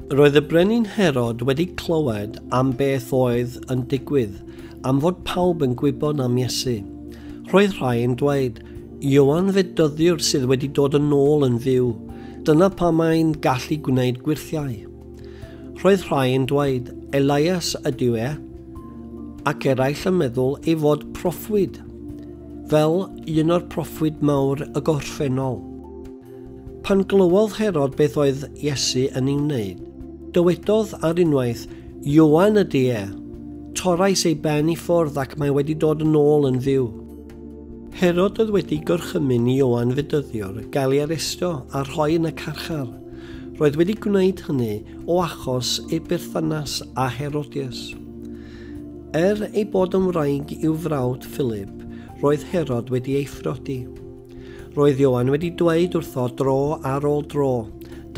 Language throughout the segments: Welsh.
Roedd y brenin Herod wedi clywed am beth oedd yn digwydd, am fod pawb yn gwybod am Iesu. Roedd rhai yn dweud, Iowan fe dyddiwr sydd wedi dod yn ôl yn fyw, dyna pa mae'n gallu gwneud gwirthiau. Roedd rhai yn dweud, Elias ydyw e, ac eraill yn meddwl ei fod proffwyd, fel un o'r proffwyd mawr y gorffennol. Pan glywodd Herod beth oedd Iesu yn ei wneud, dywedodd ar unwaith, Ioan ydy e! Torrais ei ben i ffwrdd ac mae wedi dod yn ôl yn fyw. Herod oedd wedi gorchymyn i Ioan fedyddiwr gael ei arestio a rhoi yn y carchar. Roedd wedi gwneud hynny o achos ei berthynas â Herodias. Er ei bod yn wraig i'w frawd Philip, roedd Herod wedi ei phrodi. Roedd Ioan wedi dweud wrtho dro ar ôl dro,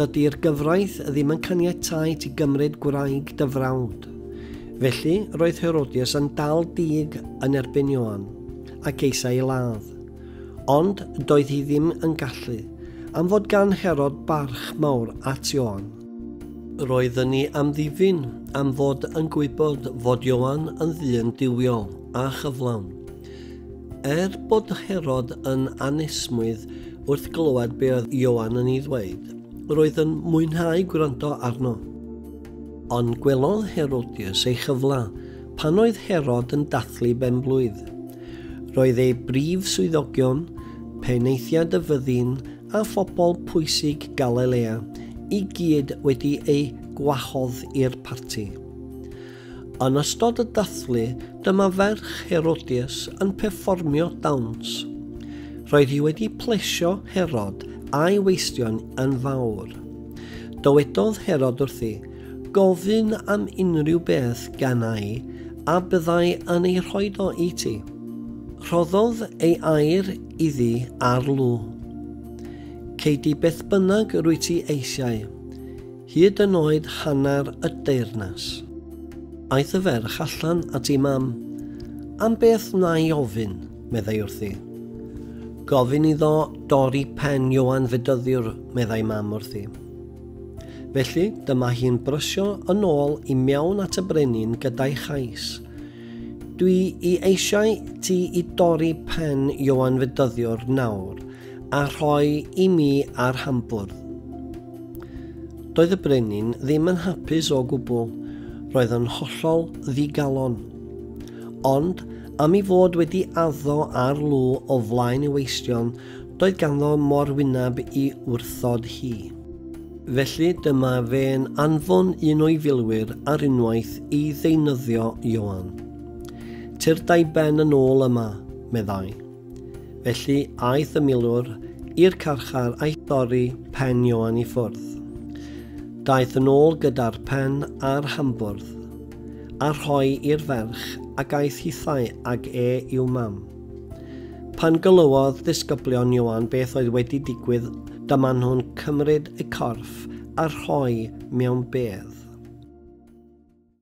Dydy'r gyfraith ddim yn caniatáu ti gymryd gwraig dy frawd. Felly, roedd Herodias yn dal dug yn erbyn Ioan, ac eisiau ei ladd. Ond doedd hi ddim yn gallu, am fod gan Herod barch mawr at Ioan. Roedden ni am ddifyn am fod yn gwybod fod Ioan yn ddyn duwiol a chyflawn. Er bod Herod yn anesmwyth wrth glywed be oedd Ioan yn ei ddweud, roedd yn mwynhau gwrando arno. Ond gwelodd Herodias ei chyfle pan oedd Herod yn dathlu benblwydd. Roedd ei brif swyddogion, penaethiaid y fyddin a phobl pwysig Galilea i gyd wedi eu gwahodd i'r parti. Yn ystod y dathlu, dyma ferch Herodias yn perfformio dawns. Roedd hi wedi plesio Herod a'i weistion yn fawr. Dywedodd Herod wrthi, Gofyn am unrhyw beth gan ai, a byddai yn ei rhoi do i ti. Rhoddodd ei air iddi ar lw. Cei di beth bynnag rwy ti eisiau. Hyd yn oed hanner y deyrnas. Aeth y ferch allan at ei mam. Am beth wna'i ofyn? meddai wrthi. Gofyn iddo dorri pen Ioan Fedyddiwr, meddai mam wrthi. Felly, dyma hi'n brysio yn ôl i mewn at y brenin gyda'i chais. Dwi i eisiau ti i dorri pen Ioan Fedyddiwr nawr, a rhoi i mi ar hambwrdd. Doedd y brenin ddim yn hapus o gwbl, roedd yn hollol ddigalon. Ond am i fod wedi addo ar lw o flaen y weistion, doedd ganddo mor wyneb i wrthod hi. Felly dyma fe'n anfon un o'i filwyr ar unwaith i ddeunyddio Ioan. Tyrdai ben yn ôl yma, meddai. Felly, aeth y milwr i'r carchar a'i thorri pen Ioan i ffwrdd. Daeth yn ôl gyda'r pen a'r hambwrdd, a rhoi i'r ferch ac aeth hithau ag e i'w mam. Pan gylywodd ddisgyblion Ioan beth oedd wedi digwydd, dyma nhw'n cymryd y corff a rhoi mewn bedd.